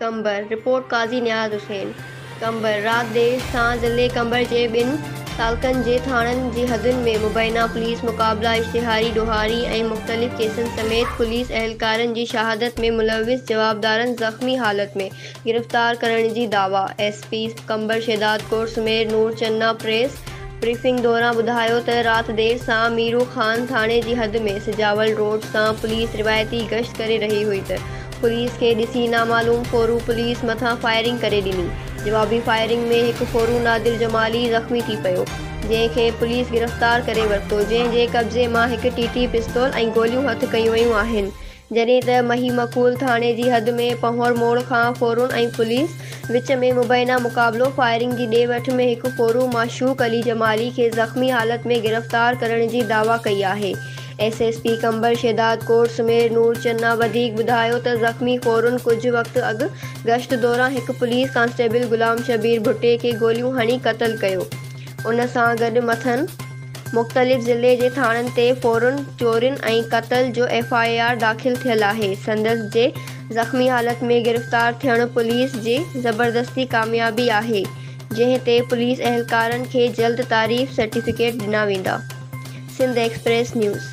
Qambar, report Qazi Niaz Hussain, Qambar, رات دير سان ضلعي قمبر جي ٻن تعلقن جي ٿاڻن جي حدن ۾ مبينا پوليس مقابلا، اشتهاري ڏوهاري ۽ مختلف ڪيسن سميت پوليس اهلڪارن جي شهادت ۾ ملوث جوابدارن زخمي حالت ۾ گرفتار ڪرڻ جي دعويٰ S P Qambar Shahdad Kot Sameer Noor Channa press briefing دوران ٻڌايو ته رات دير سان ميرو خان ٿاڻي جي حد ۾ سجاول روڊ سان پوليس روايتي گشت ڪري رهي هئي ته پوليس کي ڏسي نامعلوم ڦورو پوليس مٿان فائرنگ ڪري ڏني جوابي فائرنگ ۾ هڪ ڦورو نادر جمالي زخمي ٿي پيو جنهن کي پوليس گرفتار ڪري ورتو جنهن جي قبضي مان هڪ ٽي ٽي پستول ۽ گوليون هٿ ڪيون ويون آهن جڏهن ته مهي مقول ٿاڻي جي حد ۾ پنهور موڙ کان ڦورون ۽ پوليس وچ ۾ مبينا مقابلو فائرنگ جي ڏي وٺ ۾ هڪ ڦورو معشوق علي جمالي کي زخمي حالت ۾ گرفتار ڪرڻ جي دعويٰ ڪئي آهي S S P Qambar Shahdad Kot Sameer Noor Channa وڌيڪ ٻڌايو ته زخمي ڦورن ڪجهه وقت اڳ گشت دوران هڪ پوليس ڪانسٽيبل غلام شبير ڀٽي کي گوليون هڻي قتل ڪيو ان سان گڏ مٿن مختلف ضلعي جي ٿاڻن تي ڦورن، چورين ۽ قتل جو ايف آء آر داخل ٿيل آهي. سندس جي زخمي حالت ۾ گرفتار ٿيڻ پوليس جي زبردستي ڪاميابي آهي، جنهن تي پوليس اهلڪارن کي جلد تعريف سرٽيفڪيٽ ڏنا ويندا. Sindh Express news.